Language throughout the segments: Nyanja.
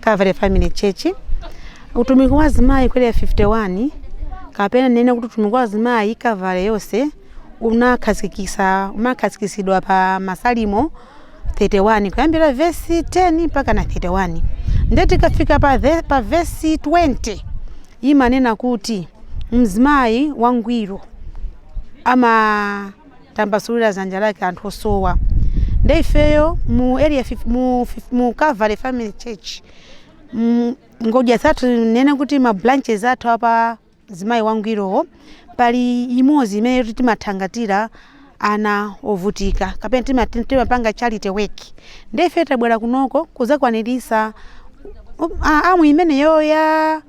Calvary Family Church. Utumiki wa azimayi ku area 51 kapena nene kuti utumiki wa azimayi Calvary yonse unakhazikisa unakhazikitsidwa pa Masalimo 31 kuyambira vesi 10 mpaka na 31 ndiye tikafika pa, pa vesi 20 imanena kuti mzimayi wangwiro ama tambasulira zanja lake kwa anthu osowa nde ifeyo mu area fif- mu, fif- mu Calvary Family Church mm, ngodya zathu nene kuti ma branches athu apa zimayi wangwirowo pali imodzi imene yoti timathangatira ana ovutika kapena tima- timapanga charity work nde ife tabwera kunoko kuzakwaniritsa um, a- arm imeneyo ya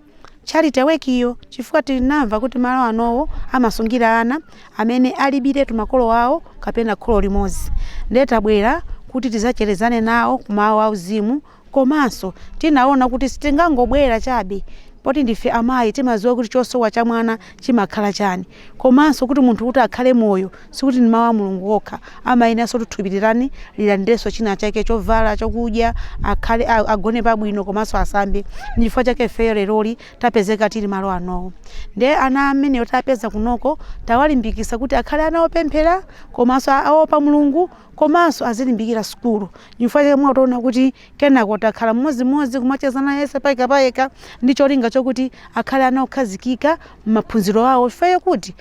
charity work iyo chifukwa tinamva kuti malo anowa amasungira ana amene alibiretu makolo awo kapena kholo limodzi ndiye tabwera kuti tizacherezane nawo ku mawu auzimu komanso tinaona kuti sitingangobwera chabe poti ndife amayi timadziwa kuti chosowa cha mwana chimakhala chani komanso kuti munthu kuti akhale moyo sikuti ndi mawu a mulungu okha amayeneranso kuti thupi litani lilandirenso china chake chovala chokudya akhale a- agone pabwino komanso asambe ndi chifukwa chake ifeyo leroli tapezeka tili malo anowa nde ana amene tapeza kunoko tawalimbikisa kuti akhale ana opemphera komanso a- aopa mulungu komanso azilimbikira sukulu chifukwa chake mwationa kuti Kenako takhala mmodzimodzi kumachezana yense payekapayeka ndi cholinga chokuti akhale ana okhazikika m'maphunziro awo chifukwa chokuti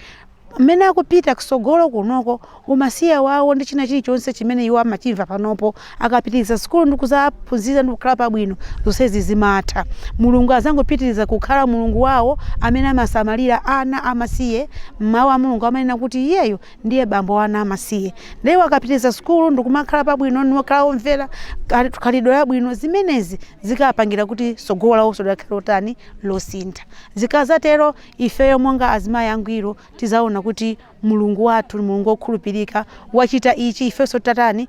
mmene akupita kusogolo kunoko umasiye wawo ndi china chilichonse chimene iwo amachimva panopo akapitiriza sukulu ndi kuzaphunzira ndi kukhala pabwino zonsezi zimatha mulungu azangopitiriza kukhala mulungu wawo amene amasamalira ana amasiye mawu a mulungu amanena kuti iyeyo ndiye bambo wa ana amasiye nde iwo akapitiriza sukulu ndikumakhala pabwino nikukhala omvera kali- khalidwe labwino zimenezi zikapangira kuti tsogolo lawonso likhale lotani losintha zikazatero ifeyo monga azimayi angwiro tizaona kuti mulungu wathu ni mulungu wokhulupirika wachita ichi ifenso tatani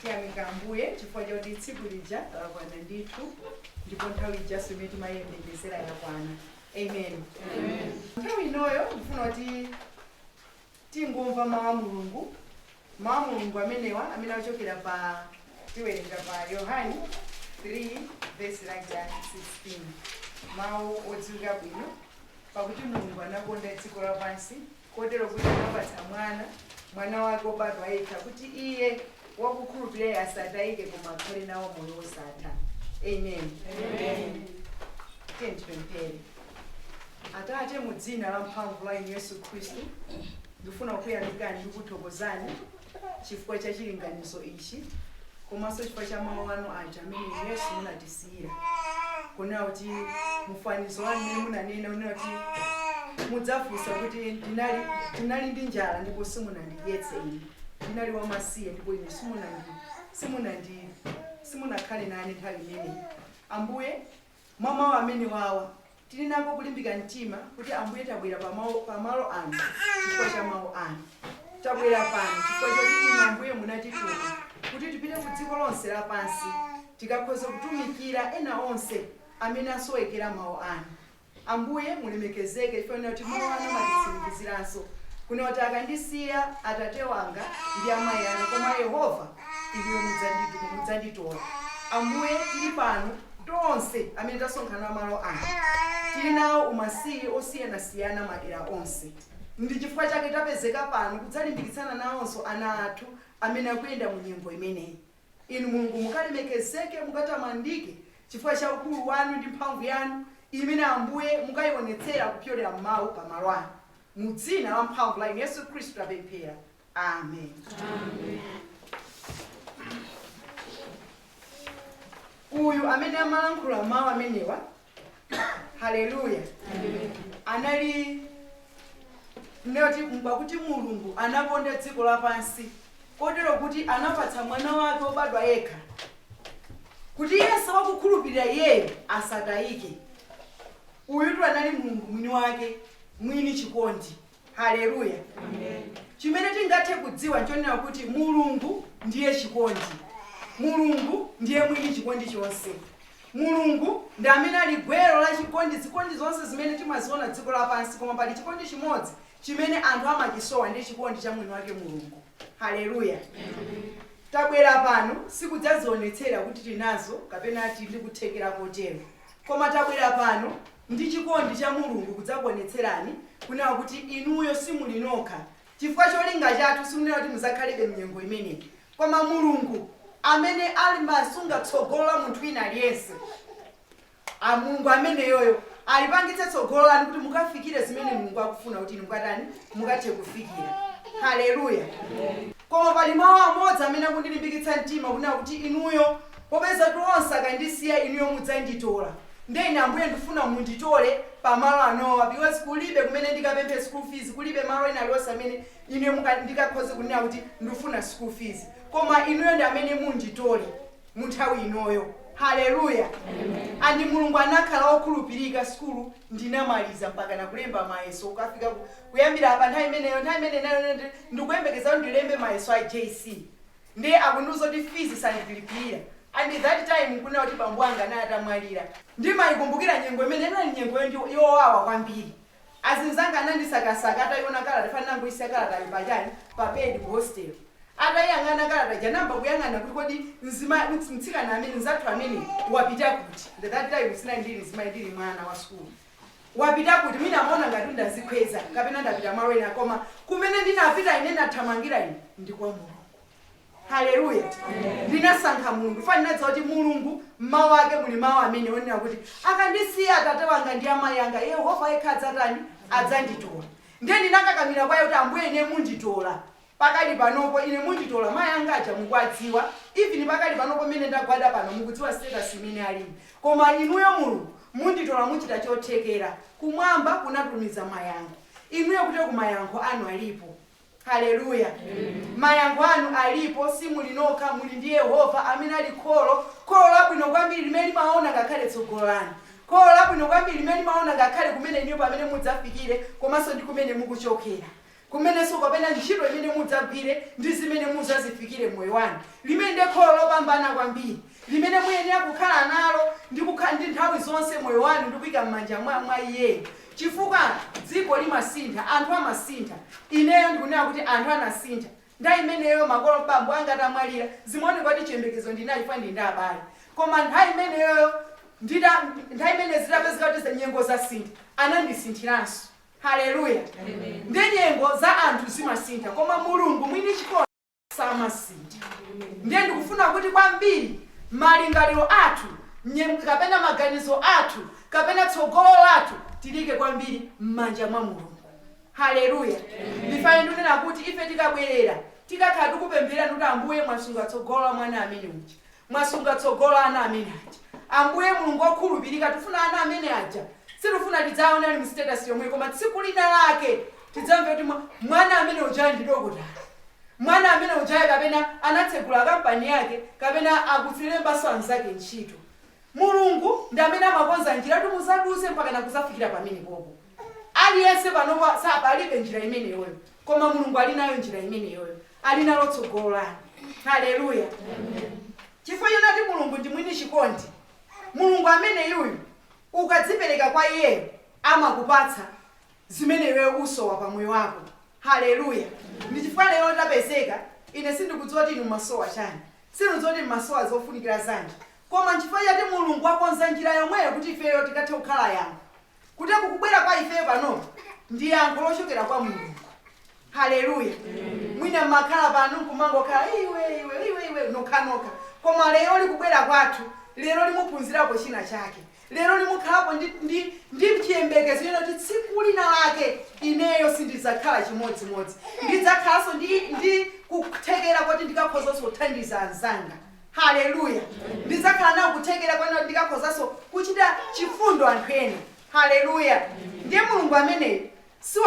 tiyamika ambuye chifukwa choti tsiku lija lakwana ndithu ndipo nthawi ijanso imene timayembekezera yakwana amen nthawi inoyo ndifuna kuti tingomva mawu a mulungu mawu a mulungu amenewa amene achokera pa tiwerenga pa yohani 3 vesi lake la 16 mawu odziwika bwino pakuti mulungu anakonda dziko lapansi kotero kuti anapatsa Mwana, Mwana wake obadwa yekha, kuti yense wakukhulupirira iye asatayike, koma akhale nawo moyo wosatha. Amen. Amen. Tipemphere. Atate, mu dzina la mphamvu la Yesu Khristu, ndifuna kukuyamikani ndi kukuthokozani chifukwa cha chilinganizo ichi komanso chifukwa cha mawu anu aja amene yesu munatisiyira kunena kuti mufanizo wanu mmene munanena unena kuti mudzafunsa kuti ndinali ndi njala ndipo simunandidyetse ine ndinali wamasiye ndipo ine simunandi simunandi simunakhale nane nthawi imeneyi ambuye Mwa mau amenewawa tiri nako kulimbika mtima, kuti Ambuye tabwera pa mau, pa malo ano chifukwa cha mau anu. Tabwera pano chifukwa choti inu, Ambuye, munatituma kuti tipite ku dziko lonse lapansi tikakhoza kutumikira ena onse amene asowekera mau anu. Ambuye mulemekezeke chifukwa chonena kuti mau anu amatitsimikiziranso kunena kuti, Akandisiya atate wanga ndi amai anga, koma Yehova. Inuyo mudzanditora. Ambuye, tiri pano tonse amene tasonkhana malo ano. Tiri nawo umasiye osiyanasiyana madera onse. Ndi chifukwa chake tapezeka pano kudzalimbikitsana nawonso ana athu amene akuyenda mu nyengo imeneyi. Inu Mulungu mukalemekezeke, mukatamandike chifukwa cha ukulu wanu ndi mphamvu yanu imene, Ambuye, mukaionetsera kupyolera m'Mau pa malo ano. Mu dzina lamphamvu la Yesu Khristu tapemphera. amen uyu amene amalankhula mawu amenewa haleluya anali nati pakuti mulungu anakonda dziko lapansi kotero kuti anapatsa mwana wake wobadwa yekha kuti yense wakukhulupirira iyeyo asatayike uyutu anali mulungu mwini wake mwini chikondi Haleluya! Chimene tingathe kudziwa n'chonena kuti Mulungu ndiye chikondi. Mulungu ndiye mwini chikondi chonse. Mulungu ndi amene ali gwero la chikondi. Zikondi zonse zimene timaziona dziko lapansi, koma pali chikondi chimodzi chimene anthu amachisowa, ndiye chikondi cha mwiniwake Mulungu. Haleluya! Tabwera pano si kudzazionetsera kuti tinazo kapena tili ndi kuthekera kotero, koma tabwera pano Ndi chikondi cha Mulungu kudzakuonetserani kunena kuti inuyo simuli nokha chifukwa cholinga chathu sikunena kuti muzakhalebe mnyengo imeneyi koma Mulungu amene amasunga tsogolo la munthu wina aliyense Mulungu ameneyoyo alipangitse tsogolo lanu kuti mukafikire zimene Mulungu akufuna kuti inu mukatani mukathe kufikira. Hallelujah! Koma pali mau amodzi amene akundilimbikitsa mtima kunena kuti inuyo popezatu onse akandisiya inuyo mudzanditola. Ndiye ine, Ambuye, ndifuna munditole pa malo anowa, because kulibe kumene ndikapemphe school fees, kulibe malo ena aliwonse amene ine ndikakhoze kunena kuti ndifuna school fees. Koma inuyo ndi amene munditole mu nthawi inoyo. Haleluya! And Mulungu anakhala wokhulupirika, sukulu ndinamaliza mpakana kulemba mayeso kukafika kuyambira pa nthawi imeneyo ndikuyembekeza ndilembe mayeso a JC. Ndiye akundiuza kuti fees sandilipilira and that time nkunena kuti bambo anga anali atamwalira. Ndimaikumbukira nyengo imeneyo, inali nyengo yowawa kwambiri. Azinzanga anandisakasaka ataiona kalata chifukwa ndinangoisiya kalatayo pa chani, pa bed ku hostel. Ataiyang'ana kalata ija anayamba kuyang'ana kuti kodi mtsikana amene, mzathu ameneyu wapita kuti? And that time sindinali mzimayi, ndili mwana wa sukulu. wapita kuti? Mwina amaona ngati kuti ndadzikhweza kapena ndapita malo ena koma kumene ndinapita ine nathamangira ine ndi kwa Mulungu. Haleluya. Ndinasankha Mulungu. Chifukwa ndinadziwa kuti Mulungu m'mawu ake muli mawu amene amanena kuti akandisiya atate wanga ndi amayi anga Yehova yekha adzatani? Adzanditola. Ndiye ndinakakamira kwa iye kuti Ambuye ine munditola. pakali panopo ine munditola mayi anga aja mukuwadziwa even pakali panopo mmene ndagwada pano mukudziwa status imene ali koma inuyo mulungu munditola muchita chothekera kumwamba kunatumiza mayankho inuyo kuti eku mayankho anu alipo hallelujah mayankho anu alipo simuli nokha muli ndi yehova amene ali kholo kholo labwino kwambiri limene limaona ngakhale tsogolo lanu kholo labwino kwambiri limene limaona ngakhale kumene inuyo pamene mudzafikire komanso ndi kumene mukuchokera kumenenso kapena ntchito imene mudzagwire ndi zimene mudzazifikire m'moyo wanu, limene ndi kholo lopambana kwambiri limene muyenera kukhala nalo ndi nthawi zonse moyo wanu ndi kuika m'manja mwa iyeyo chifukwa dziko limasintha anthu amasintha ineyo ndikunena kuti anthu anasintha nthawi imeneyo makolo bambo anga atamwalira zimaoneka kuti chiyembekezo ndinali chifukwa ndili ndi abale koma nthawi imeneyoyo nthawi imene zitapezeka kuti nyengo zasintha anandisinthiranso Haleluya! Nde nyengo za anthu zimasintha koma Mulungu mwini chikondi samasintha. Ndiye ndikufuna kuti kwambiri malingaliro athu kapena maganizo athu kapena tsogolo lathu tilike kwambiri mmanja mwa Mulungu. Haleluya! Nchifane ndunena kuti ife tikabwerera tikakhala tikupemphererani kuti Ambuye mwasunga tsogolo la mwana amene uja. Mwasunga tsogolo la ana amene aja Ambuye Mulungu okhulupirika tifuna ana amene aja sitifuna tidzawaone ali mu status yomweyi koma tsiku lina lake tidzamve kuti mwana amene ujayu ndi dokotala mwana amene ujayu kapena anatsegula kampani yake kapena akudzilembanso anzake ntchito Mulungu ndi amene amakonza njira yoti muzadutse mpakana kuzafikira pamenepopo aliyense panopa alibe njira imeneyoyo koma Mulungu alinayo njira imeneyoyo ali nalo tsogolo lanu. Haleluya! Chifukwa chonati Mulungu ndi mwini chikondi, Mulungu ameneyuyu ukadzipereka kwa iyeyo amakupatsa zimene iweyo ukusowa pa moyo wako. Haleluya! Ndi chifukwa lero tapezeka, ine sindikudziwa kuti inu mmasowa chani, sindikudziwa kuti mmasowa zofunikira zanji, koma nchifukwa choti Mulungu wakonza njira yomweyo kuti ifeyo tikathe kukhala yankho. kuti kukubwera kwa ifeyo pano ndi yankho lochokera kwa mulungu haleluya mwina mmakhala pano nkumangokhala iwe iwe iwe iwe nokhanokha koma lero likubwera kwathu lero limuphunzirapo china chake lero limukhalapo ndi, ndi, ndi chiyembekezo kunena kuti tsiku lina lake ineyo sindidzakhala chimodzimodzi ndidzakhalanso ndi, ndi kuthekera kuti ndikakhozanso kuthandiza anzanga Haleluya! Ndidzakhala nako kuthekera konena kuti ndikakhozanso kuchita chifundo anthu ena. Haleluya! Ndiye Mulungu ameneyo si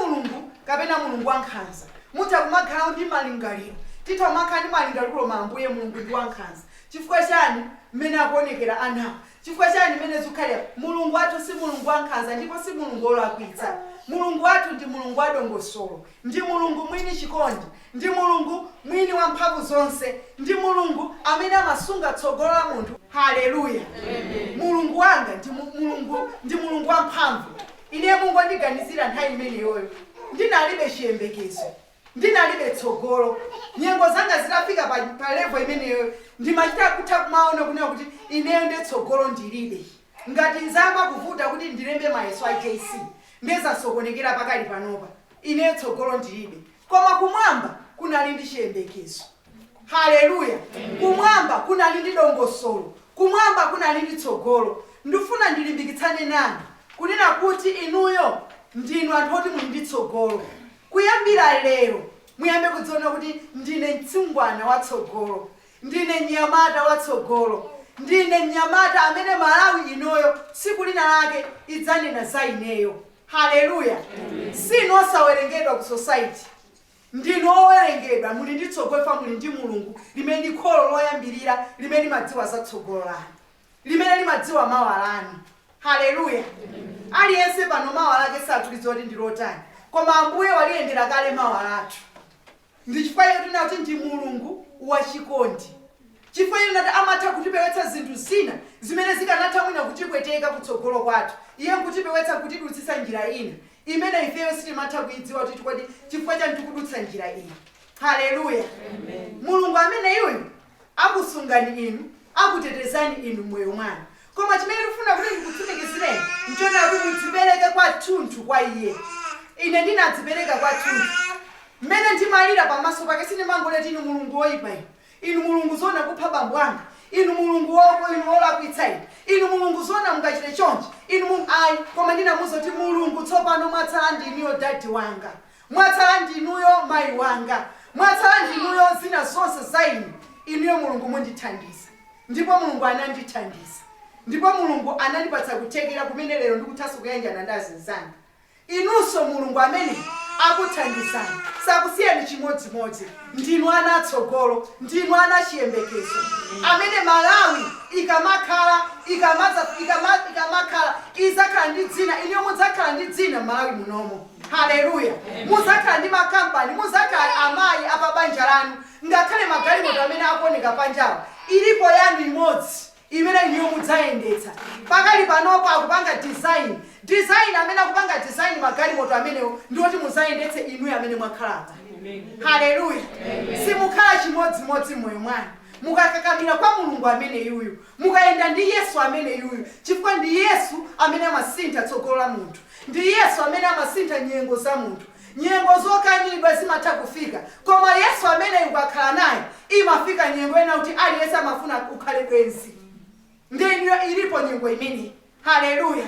Mulungu kapena Mulungu wankhanza. Mutha kumakhalawo ndi malingaliro. Titha kumakhala ndi malingaliro kuti koma Ambuye Mulungu ndi wankhanza. Chifukwa chani mmene akuonekera anawa? Chifukwa chani mmene zikukhalira? Mulungu wathu si Mulungu wankhanza ndipo si Mulungu olakwitsa. Mulungu wathu ndi Mulungu wadongosolo. Ndi Mulungu mwini chikondi. Ndi Mulungu mwini wa mphamvu zonse. Ndi Mulungu amene amasunga tsogolo la munthu. Haleluya! Mulungu wanga ndi Mulungu, ndi Mulungu wamphamvu. Ine Mulungu anandiganizira nthawi imeneyoyo. Ndinalibe chiyembekezo. Ndinalibe tsogolo. Nyengo zanga zitafika pa, pa level imeneyoyo, ndimachita kutha kumaona kunena kuti ineyo nde tsogolo ndilibe. Ngati zayamba kuvuta kuti ndilembe mayeso a JC, Nde zasokonekera pakali panopa, ineyo tsogolo ndilibe. Koma Kumwamba kunali ndi chiyembekezo. Haleluya! Kumwamba kunali ndi dongosolo. Kumwamba kunali ndi tsogolo. Ndifuna ndilimbikitsane nanu, kunena kuti inuyo ndinu anthu oti muli ndi tsogolo. Kuyambira lero, muyambe kudziona kuti, Ndine mtsungwana wa tsogolo. Ndine mnyamata wa tsogolo. Ndine mnyamata amene Malawi inoyo tsiku lina lake idzanena za ineyo. Hallelujah! Sinu osawerengedwa ku society. Ndinu owerengedwa. Muli ndi tsogolo chifukwa muli ndi Mulungu limene ndi kholo loyambirira limene limadziwa za tsogolo lanu, limene limadziwa mawa lanu. Hallelujah! Aliyense pano mawa lake satulidziwa kuti ndi lotani, koma Ambuye waliyendera kale mawa lathu. Ndi chifukwa chake tinena kuti ndi Mulungu wachikondi, chifukwa chonena kuti amatha kutipewetsa zinthu zina zimene zikanatha mwina kutipweteka kutsogolo kwathu. Iye nkutipewetsa, nkutidutsitsa njira ina imene ifeyo sitimatha kuidziwa kuti kodi chifukwa chani tikudutsa njira iyi. Haleluya! Mulungu ameneyuyu akusungani inu, akutetezani inu mmoyo mwanu. Koma chimene ndikufuna kuti ndikutsimikizireni, nchonena kuti mudzipereke kwathunthu kwa Iye. Ine ndinadzipereka kwathunthu. Mmene ndimalira pamaso Pake, sindimangolira kuti, Inu Mulungu woyipa Inu. Inu Mulungu, zoona kupha bambo anga? Inu Mulungu, wo, wo, Inu wolakwitsa Inu. Inu Mulungu, zoona mungachite chonchi? Inu Mulungu, ayi. Koma ndinamuwuza kuti, Mulungu, tsopano mwatsala ndinuyo, dadi wanga. Mwatsala ndinuyo mayi wanga, mwatsala ndinuyo zina zonse za inu, inuyo Mulungu mundithandiza. Ndipo Mulungu anandithandiza. Ndipo Mulungu anandipatsa kuthekera kumene lero ndikuthanso kuyanjana ndi azinzanga. Inunso Mulungu amene akuthandizani sakusiyani chimodzimodzi. Ndinu ana a tsogolo, ndinu ana a chiyembekezo amene Malawi ikamakhala, ikamakhala, idzakhala ndi dzina, inuyo mudzakhala ndi dzina m'Malawi munomo. Haleluya! Mudzakhala ndi makampani, mudzakhala amayi a pa banja lanu, ngakhale magalimoto amene akuoneka panjawa, ilipo yanu imodzi imene inuyo mudzayendetsa. Pakali panopo akupanga design, design, amene akupanga design magalimoto amenewo ndi oti mudzayendetse inuyo amene mwakhala apa. Haleluya! Simukhala chimodzimodzi m'moyo mwanu, mukakakamira kwa Mulungu ameneyuyu. Mukayenda ndi Yesu ameneyuyu chifukwa ndi Yesu amene amasintha tsogolo la munthu. Ndi Yesu amene amasintha nyengo za munthu. Nyengo zokanidwa zimatha kufika koma Yesu ameneyu ukakhala naye imafika nyengo yonena kuti aliyense amafuna kukhala bwenzi ndi inuyo ilipo nyengo imeneyi. Haleluya!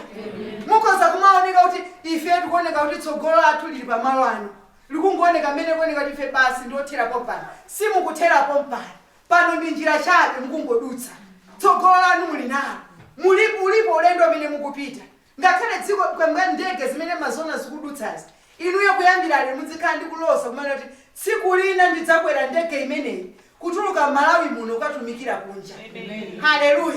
Mukhoza kumaoneka kuti ifeyo tikuoneka kuti tsogolo lathu lili pa malo ano. Likungooneka mmene likuoneka kuti ife basi ndi othera pompano. Simukuthera pompano. Pano ndi njira chabe, mukungodutsa. Tsogolo lanu muli nalo. Mulipo, ulipo ulendo amene mukupita. Ngakhale dziko, kwa, mwa ndege zimene mmaziwona zikudutsazi, inuyo kuyambira lero muzikhala ndi kulosa kumanena kuti, Tsiku lina ndidzakwera ndege imeneyi kutuluka mMalawi muno kukatumikira kunja. Haleluya!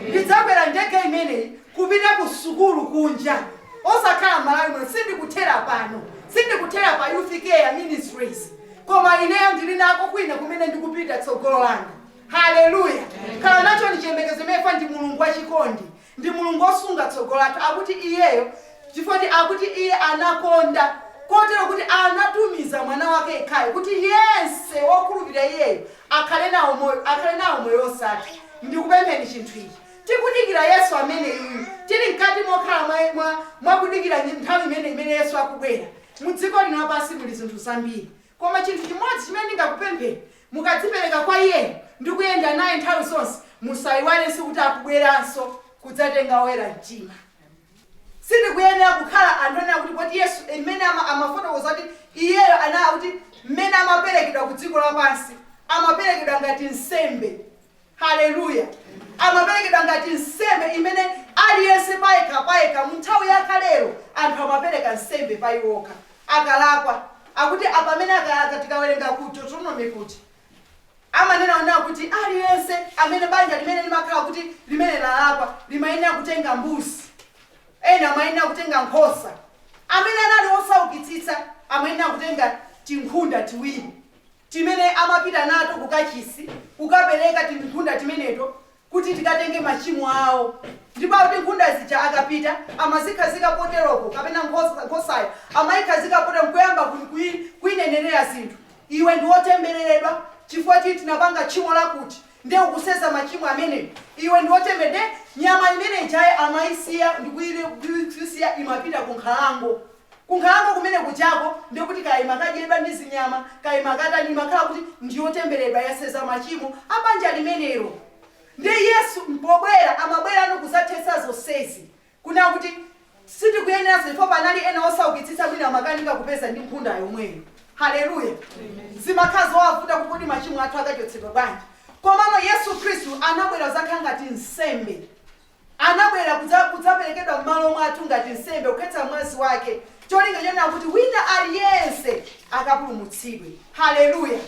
Ndidzakwera ndege imeneyi kupita ku sukulu kunja, osakhala mMalawi muno. Sindikuthera pano. Sindikuthera pa Youth Care Ministries. Koma ineyo ndiri nako kwina kumene ndikupita, tsogolo langa. Haleluya! Khalani nachoni chiyembekezo chimene chifukwa ndi Mulungu wa chikondi. Ndi Mulungu wosunga tsogolo lathu. Akuti Iyeyo chifukwa akuti Iye anakonda kotero kuti anatumiza Mwana wake yekhayo kuti yense wokhulupirira Iyeyo akhale nawo moyo, akhale nawo moyo wosatha. Ndikupempheni chinthu ichi. Tikudikira Yesu ameneyuyu. Tiri mkati mokhala mwa, mwa, mwa kudikira nthawi imeneyi imene Yesu akubwera. Mu dziko lino lapansi muli zinthu zambiri, koma chinthu chimodzi chimene ndingakupempheni, mukadzipereka kwa iyeyo ndi kuyenda naye nthawi zonse, musaiwalenso kuti akubweranso kudzatenga oyera mtima. Sitikuyenera kukhala anthu onena kuti Yesu mmene ama amafotokoza kuti iyeyo anali akuti mmene amaperekedwa ku dziko lapansi, amaperekedwa ngati nsembe. Haleluya! Amaperekedwa ngati nsembe imene aliyense payekha payekha. Mu nthawi ya kalelo anthu amapereka nsembe pa iwo okha akalakwa. Akuti apa amene akalakwa tikawerenga ku Deuteronomy kuti amanena kunena kuti aliyense amene banja limene limakhala kuti limene lalakwa limayenera kutenga mbuzi. Ena amayenera kutenga nkhosa. Amene anali osaukitsitsa amayenera kutenga tinkhunda tiwiri. timene amapita nato ku kachisi, kukapereka tinkhunda timeneto kuti tikatenge machimo awo. Ndipo akuti nkhunda zija akapita amazikhazika poteropo, kapena nkhosa, nkhosayo amayikhazika potero, nkuyamba ku, kuyi, kuyinenera zinthu, Iwe ndi wotembereredwa chifukwa ti, tinapanga tchimo lakuti, ndiye ukuseza machimo amenewo. Iwe ndi wotember. Ndiye nyama imene ijayo amayisiya ndi kuyi, kuyi, kuyisiya imapita ku nkhalango. Ku nkhalango kumene kujako ndiye kuti kaya imakadyedwa ndi zinyama, kaya imakatani, imakhala kuti ndi yotembereredwa, yaseza machimo a banja limenelo. Ndiye Yesu pobwera, amabwera kudzathetsa zonsezi. Kunena kuti sitikuyeneranso chifukwa panali ena osaukitsitsa mwina amakanika kupeza ndi nkhunda yomweyo. Haleluya! Zimakhala zowavuta kuti kodi machimo athu akachotsedwa bwanji? Komano Yesu Khristu anabwera kudzakhala ngati nsembe. Anabwera kudzaperekedwa m'malo mwathu ngati nsembe, kukhetsa mwazi Wake, cholinga chonena kuti wina aliyense akapulumutsidwe. Haleluya!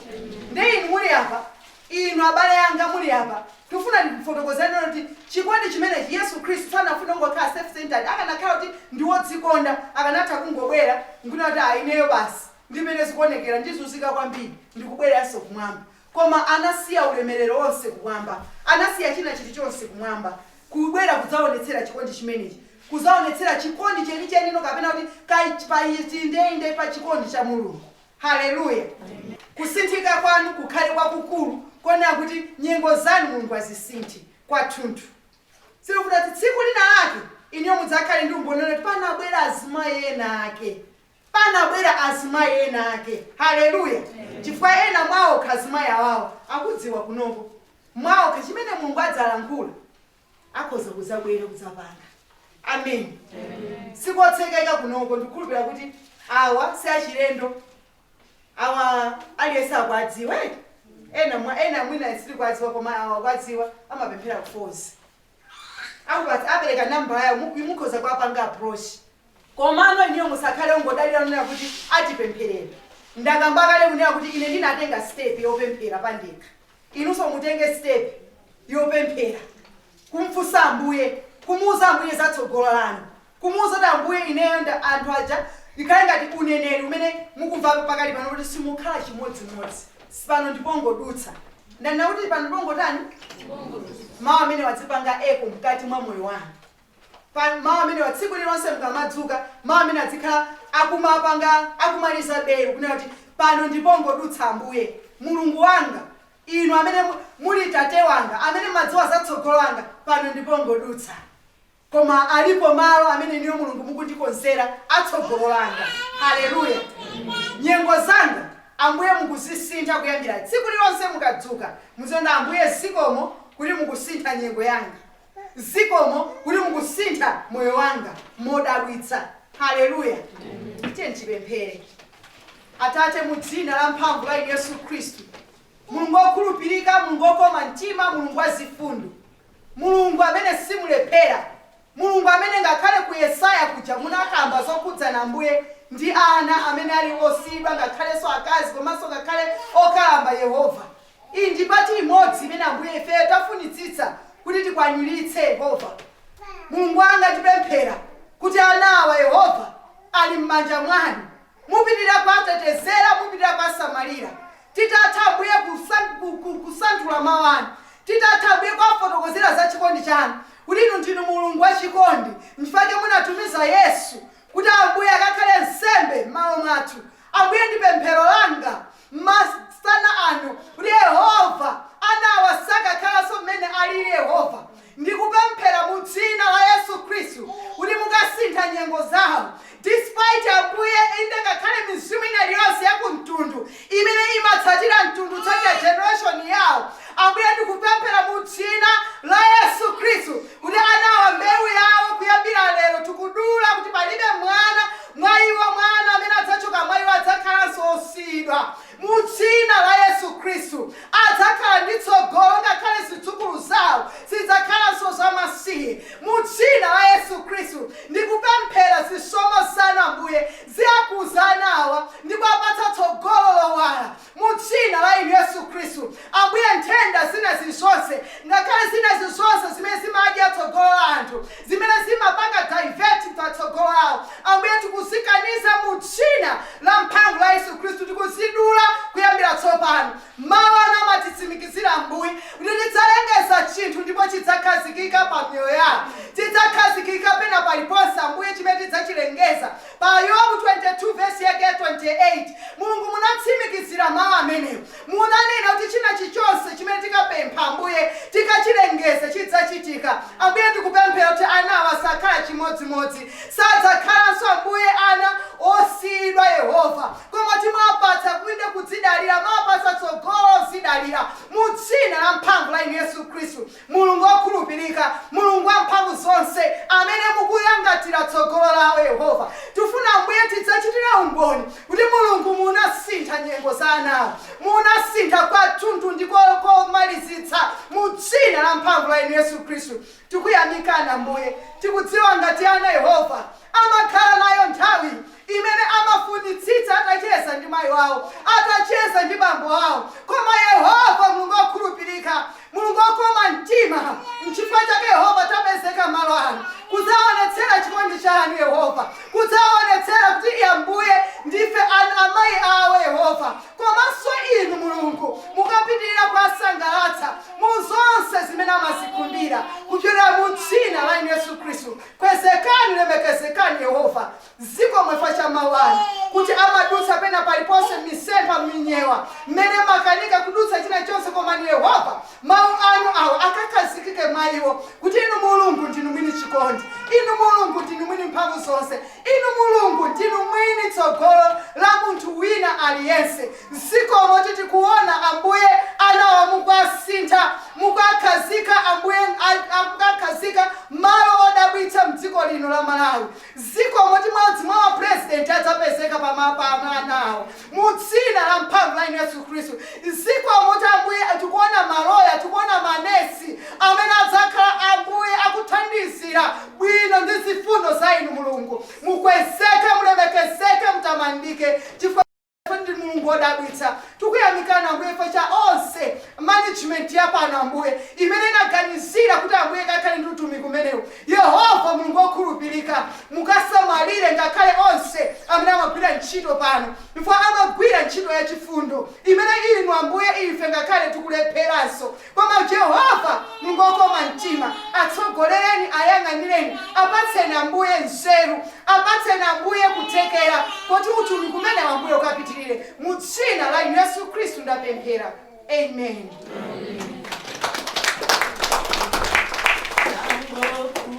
Ndiye inu muli apa, inu abale anga muli apa, ndikufuna ndikufotokozereni lero kuti chikondi chimenechi, Yesu Khristu sanafune kungokhala self-centered. Akanakhala kuti ndi wodzikonda, akanatha kungobwera, nkunena kuti, Ah, ineyo basi, ndi m'mene zikuonekera, ndizunzika kwambiri, ndikubwereranso kumwamba. Koma anasiya ulemerero wonse kumwamba, anasiya china chilichonse kumwamba, kubwera kudzawonetsera chikondi chimenechi, kudzawonetsera chikondi chenicheni, kapena kuti kach, pa ichi, inde, inde, pa chikondi cha Mulungu. Haleluya! Kusinthika kwanu kukhale kwakukulu konena kuti nyengo zanu Mulungu azisinthe kwathunthu. Sindikufuna kuti tsiku linalake inuyo mudzakhale ndi umboni wonena kuti panabwera azimayi enaake. panabwera azimayi ena ake. Haleluya! Chifukwa, ena mwa okha azimayi awawa akudziwa kunoko, mwaokha, chimene Mulungu adzalankhula, akhoza kudzabwera, kudzapanga. Ameni. Si kotsekeka kunoko, ndikukhulupirira kuti awa si achilendo. Awa aliyense akuadziwa, eti? Ena mwa, ena mwina sitikuadziwa, koma awa akuadziwa, amapemphera ku Falls. akupatsa apereka number yawo mukhoza kuwapanga approach komano inuyo musakhale ongodalira kunena kuti atipempherera ndakamba kale kunena kuti ine ndinatenga step yopemphera pandekha inunso mutenge step yopemphera kumfunsa ambuye kumuuza ambuye za tsogolo lanu Kumuuza kuti Ambuye, ineyo nda anthu aja ikhale ngati uneneri umene mukumva apa pakali pano kuti simukhala chimodzimodzi. Pano ndi pongodutsa. Ndanena kuti pano ndi pongotani? Mawu amenewa adzipanga echo mkati mwa moyo wanu. Pa, mawu amenewa tsiku lililonse mukamadzuka, mawu amenewa adzikhala akumapanga, akumaliza belu kunena kuti pano ndi pongodutsa Ambuye. Mulungu wanga, Inu amene mu, muli Tate wanga, amene m'madziwa za tsogolo langa, pano ndi pongodutsa. Koma alipo malo amene Inuyo Mulungu mukundikonzera a tsogolo langa. Haleluya! Nyengo zanga, Ambuye, mukuzisintha kuyambira tsiku lilonse mukadzuka. Muziti Ambuye, zikomo kuti mukusintha nyengo yanga. Zikomo kuti mukusintha moyo wanga modabwitsa. Haleluya! Tiyeni tipemphere. Atate, mu Dzina lamphamvu la Yesu Khristu, Mulungu wokhulupirika, Mulungu wokoma mtima, Mulungu wazifundo. Mulungu amene simulephera, Mulungu amene ngakhale ku Yesaya kuja munakamba zokhudzana Ambuye ndi ana amene ali osiyidwa ngakhalenso akazi komanso ngakhale okalamba Yehova. Iyi ndi pati imodzi imene Ambuye ifeyo tafunitsitsa kuti tikwaniritse Yehova. Mulungu wanga tipemphera kuti ana awa Yehova ali m'manja mwanu. Mupitirira kuwatetezera, mupitirira kuwasamalira. Titatha, Ambuye, kusanthula Mawu Anu, titatha, Ambuye, kuwafotokozera za chikondi Chanu, kuti Inu ndinu Mulungu wa chikondi, nchifukwa chake munatumiza Yesu, kuti, Ambuye, akakhale nsembe mmalo mwathu. Ambuye, ndi pemphero langa, masana ano, kuti Yehova anawa sakakhalanso mmene aliri, Yehova, ndikupemphera mu Dzina la Yesu Khristu kuti mukasintha nyengo zawo. Despite, Ambuye, inde, ngakhale mizimu ina iliyonse ya ku mtundu imene imatsatira mtundu kutsatira generation yawo, Ambuye, ndikupemphera mu Dzina la Yesu Khristu kuti anawa mbewu yawo kuyambira lero tikudula kuti palibe mwana Mwa iwo, mwana amene adzachoka mwa iwo adzakhalanso osiyidwa. Mu Dzina la Yesu Khristu, adzakhala ndi tsogolo, ngakhale zidzukulu zawo sizidzakhalanso za masiye. Mu Dzina la Yesu Khristu, ndikupemphera, zisomo Zanu, Ambuye, ziakhuze ana awa ndi kuwapatsa tsogolo lowala. Mu Dzina la Yesu Khristu, Ambuye, nthenda zina zirizonse, ngakhale zina zirizonse zimene zimadya tsogolo la anthu, zimene zimapanga divert pa tsogolo lawo, Ambuye, tikuzikaniza mu Dzina lamphamvu la Yesu Khristu. Tikuzidula kuyambira tsopano. Mawu Anu amatitsimikizira, Ambuye, kuti tidzalengeza chinthu ndipo chidzakhazikika pa miyoyo yawo. Chidzakhazikika pena paliponse, Ambuye, chimene tidzachilengeza. Pa Yobu 22 vesi yake ya 28, Mulungu munatsimikizira mawu amenewo. Munanena kuti china chichonse chimene tikapempha, Ambuye, tikachilengeza, chidzachitika. Ambuye, tikupemphera kuti ana awa sakhala chimodzimodzi. Sadzakhalanso, Ambuye, ana osiyidwa, Yehova, koma kuti mwapatsa, inde, kudzidalira, mwapatsa tsogolo lozidalira, mu Dzina lamphamvu la Inu Yesu Khristu. Mulungu wokhulupirika, Mulungu Wamphamvuzonse, amene mukuyang'anira tsogolo lawo, Yehova, tikufuna, Ambuye, tidzachitira umboni kuti, Mulungu, munasintha nyengo za ana awo. Munasintha kwathunthu ndi komalizitsa. Mu Dzina lamphamvu la Inu Yesu Khristu, tikuyamikani, Ambuye. Tikudziwa ngati ana, Yehova, amakhala nayo nthawi. imene amafunitsitsa atacheza ndi mayi wawo, atacheza ndi bambo awo. Koma Yehova, Mulungu wokhulupirika, Mulungu wokoma mtima, n'chifukwa chake Yehova tapezeka malo ano kudzawaonetsera chikondi chanu, Yehova, kudzawaonetsera kuti Ambuye, ndife amayi awo, Yehova, komanso Inu, Mulungu, mukapitirira kuwasangalatsa mu zonse zimene amazikhumbira kupyolera mu Dzina la Inu, Yesu Khristu. Kwezekani, lemekezekani, Yehova. Zikomo chifukwa cha mawu anu, kuti amadutsa pena paliponse, mmisempha, mminyewa, mmene mukanika kudutsa china chonse. Koma, Inu Yehova, Mawu Anu awo akakhazikike mwa iwo, kuti Inu Mulungu ndinu Mwini chikondi. Inu Mulungu ndinu Mwini mphamvu zonse. Inu Mulungu ndinu Mwini tsogolo la munthu wina ali yense. Zikomo kuti tikuwona, Ambuye, ana awa mukuwasintha, mukuwakhazika, Ambuye, a, a, kukakhazika malo odabwitsa mdziko lino la Malawi. Zikomo kuti mmodzi mwa ma president adzapezeka pa ma pa ma ana awo mu dzina la mphamvu la inu Yesu Khristu. Zikomo kuti Ambuye tikuona ma loya, tikuona ma nesi amene adzakhala Ambuye akuthandizira bwino ndi zifundo za inu Mulungu. Mukwezeke, mulemekezeke, mutamandike chifukwa. Ndinu Mulungu wodabwitsa. Tikuyamikani, Ambuye, chifukwa cha onse, management ya pano, Ambuye, imene inaganizira kuti, Ambuye, ikakhale ndi utumiki umenewu. Yehova Mulungu wokhulupirika, mukasamalire ngakhale onse amene amagwira ntchito pano, chifukwa amagwira ntchito yachifundo imene Inu, Ambuye, ife ngakhale tikulepheranso, Koma Jehovah, Mulungu okoma mtima, atsogolereni, ayang'anireni, apatseni, Ambuye, nzeru. Apatseni, Ambuye, kuthekera koti utumiki umenewu, Ambuye, ukapitirire. Mu Dzina la Yesu Khristu ndapemphera. Amen. Amen.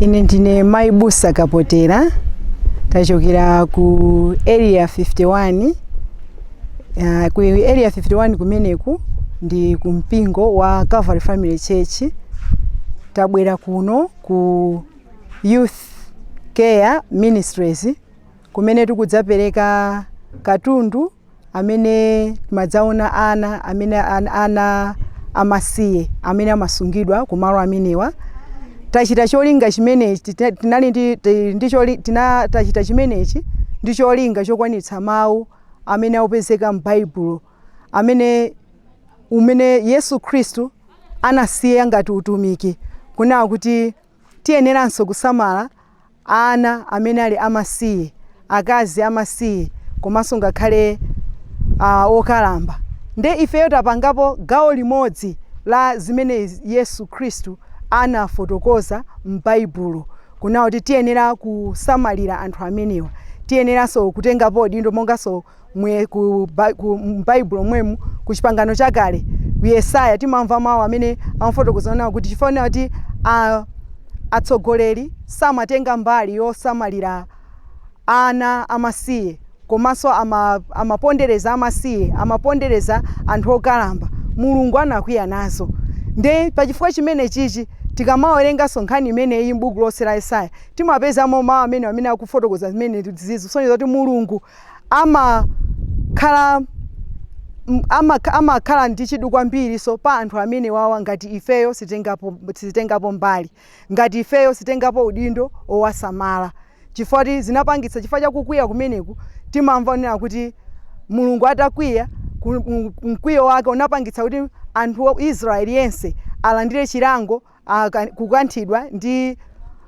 ine ndine mai abusa kapotera tachokera ku area 51 uh, ku area 51 kumeneku ndi ku mpingo wa calvary family church tabwera kuno ku youth care ministries kumene tikudzapereka katundu amene timadzaona ana amene ana amasiye amene amasungidwa ku malo amenewa tachita cholinga chimenechi tinali ndi ndi choli tina tachita chimenechi ndi cholinga chokwanitsa mawu amene akupezeka m'baibulo amene umene yesu khristu anasiya ngati utumiki kunena kuti Tiyeneranso kusamala ana amene ali amasiye, akazi amasiye komanso ngakhale a, okalamba. Ndiye ifeyo tapangapo gawo limodzi la zimene Yesu Khristu anafotokoza m'Baibulo, kunena kuti tiyenera kusamalira anthu amenewa. Tiyeneranso kutengapo udindo monganso. Mwe, ku, ba, ku m'baibulo mwemu ku chipangano chakale ku yesaya timamva mawu amene amafotokoza onena kuti chifukwa kuti a- atsogoleri samatenga mbali yosamalira ana amasiye komanso ama, amapondereza amasiye amapondereza anthu okalamba mulungu anakwiya nazo nde pachifukwa chimenechichi tikamawerenganso nkhani imeneyi m'buku lonse la yesaya timapezamo mawu amene amene akufotokoza zimenezizi kusonyeza kuti mulungu amakhala amakha amakhala ndi chidwi kwambiriso pa anthu amenewawa ngati ifeyo sitengapo sitengapo mbali ngati ifeyo sitengapo udindo owasamala chifukwa choti zinapangitsa chifukwa chakukwiya kumeneku timamva onena kuti mulungu atakwiya ku- m- mkwiyo wake unapangitsa kuti anthu wa israeli yense alandire chilango ah, ka- kukanthidwa ndi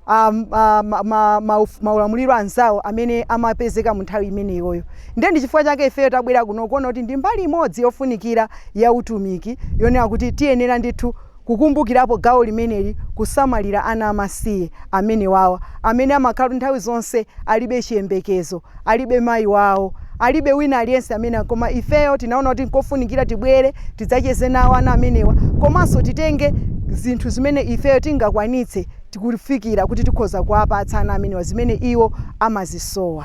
ah, m- ah, ma- ma- ma- uf- maulamuliro anzawo amene amapezeka mu nthawi imeneyoyo ndiye ndi chifukwa chake ifeyo tabwera kuno kuona kuti ndi mbali imodzi yofunikira ya utumiki yonena kuti tiyenera ndithu kukumbukirapo gawo limeneli kusamalira ana amasiye amenewawa amene amakhala kuti nthawi zonse alibe chiyembekezo alibe mayi wawo, alibe wina aliyense amene, koma ifeyo tinaona kuti nkofunikira tibwere tidzacheze nawo ana amenewa komanso titenge zinthu zimene ifeyo tingakwanitse kufikira kuti tikhoza kuwapatsa ana amenewa zimene iwo amazisowa.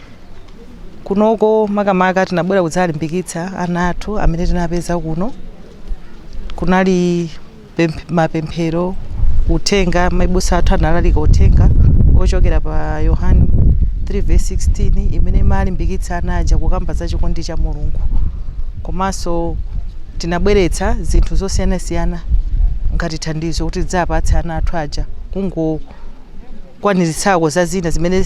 kunoko makamaka tinabwera kudzalimbikitsa ana athu amene tinapeza kuno kunali pemph- mapemphero uthenga maibusa athu analalika uthenga ochokera pa yohani 3 verse 16 imene imalimbikitsa ana aja kukamba za chikondi cha mulungu komanso tinabweretsa zinthu zosiyanasiyana ngati thandizo kuti tidzapatse ana athu aja kungokwaniritsa za zina zimene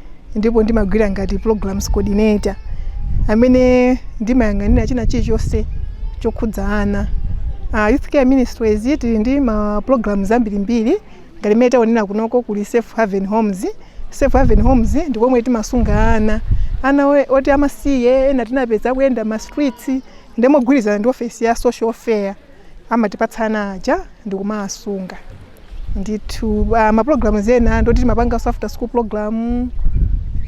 ndipo ndimagwira ngati programs coordinator amene ndimayang'anira china chilichonse chokhudza ana uh, youth care ministries tili ndi ma programs ambirimbiri ngati mmene taonera kunoko kuli safe haven homes safe haven homes ndi komwe timasunga ana ana we- oti amasiye ena tinapeza akuyenda ma streets ndi mogwirizana ndi ofesi ya social welfare amatipatsa ana aja ndikumawasunga ndithu uh, ma programs ena ndoti timapanganso after school program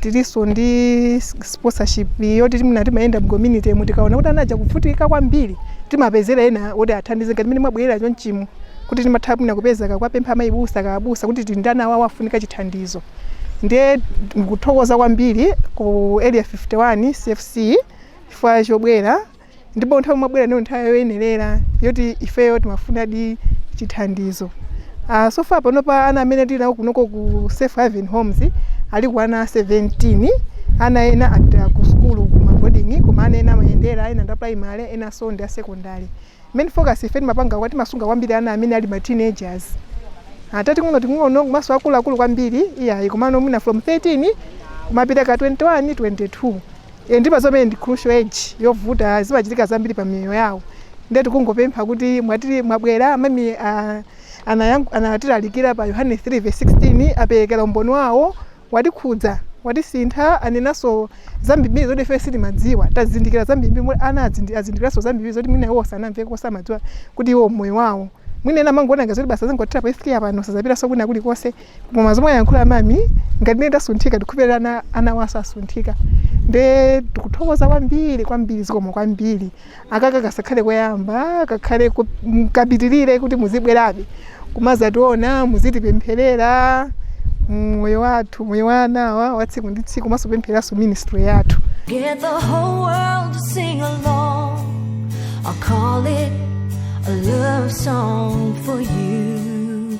tilinso ndi s- sponsorship yoti timna timayenda mcommunity mu tikaona kuti ana aja akuvutika kwambiri timapezera ena oti athandize ngati mene mwabwerera chonchimo kuti timatha mwina kupeza kuwapempha amayibusa abusa kuti tili ndi ana awa akufunika chithandizo ndiye ndikuthokoza kwambiri ku area 51 cfc chifukwa chobwera ndipo nthawi mwabwera ndiyo nthawi yoyenerera yoti ifeyo timafunadi chithandizo uh, so far panopa ana amene tili nawo kunoko ku safe haven homes ali ku ana 17 ana ena apita ku sukulu ku maboding'i koma ana ena amayendera ena ndi aprimary enanso ndi asekondary main focus ife timapanga kwa timasunga kwambiri ana amene ali ma teenagers osati ang'onoang'ono komanso akuluakulu kwambiri iyayi komano mwina from 13 kumapita ka 21 22 e ndipo zomwe ndi crucial age yovuta zimachitika zambiri pa miyoyo yawo ndiye tikungopempha kuti mwati mwabwera amami anatilalikira pa yohane 3 verse 16 aperekera umboni wawo watikhudza watisintha anenanso zambiri zoti ife sitimadziwa tazindikira zambiri mwe ana azindi- azindikiranso zambiri zoti mwina iwo sanamveko osamadziwa kuti iwo moyo wawo mwina ena amangoona ngati zoti basi zangothera pa youth care pano sazapitanso kwina kulikonse koma zomwe ayankhula mami ngati ine ndasunthika ndikhupirira anawanso asunthika nde tikuthokoza kwambiri kwambiri zikomo kwambiri aka kasakhale koyamba kakhale ku- m- kapitirire kuti muzibwerabe kumazationa muzitipempherera moyo wathu moyo wa anawa wa tsiku ndi tsiku komanso pemphereranso ministry yathu Get the whole world to sing along. I'll call it a love song for you.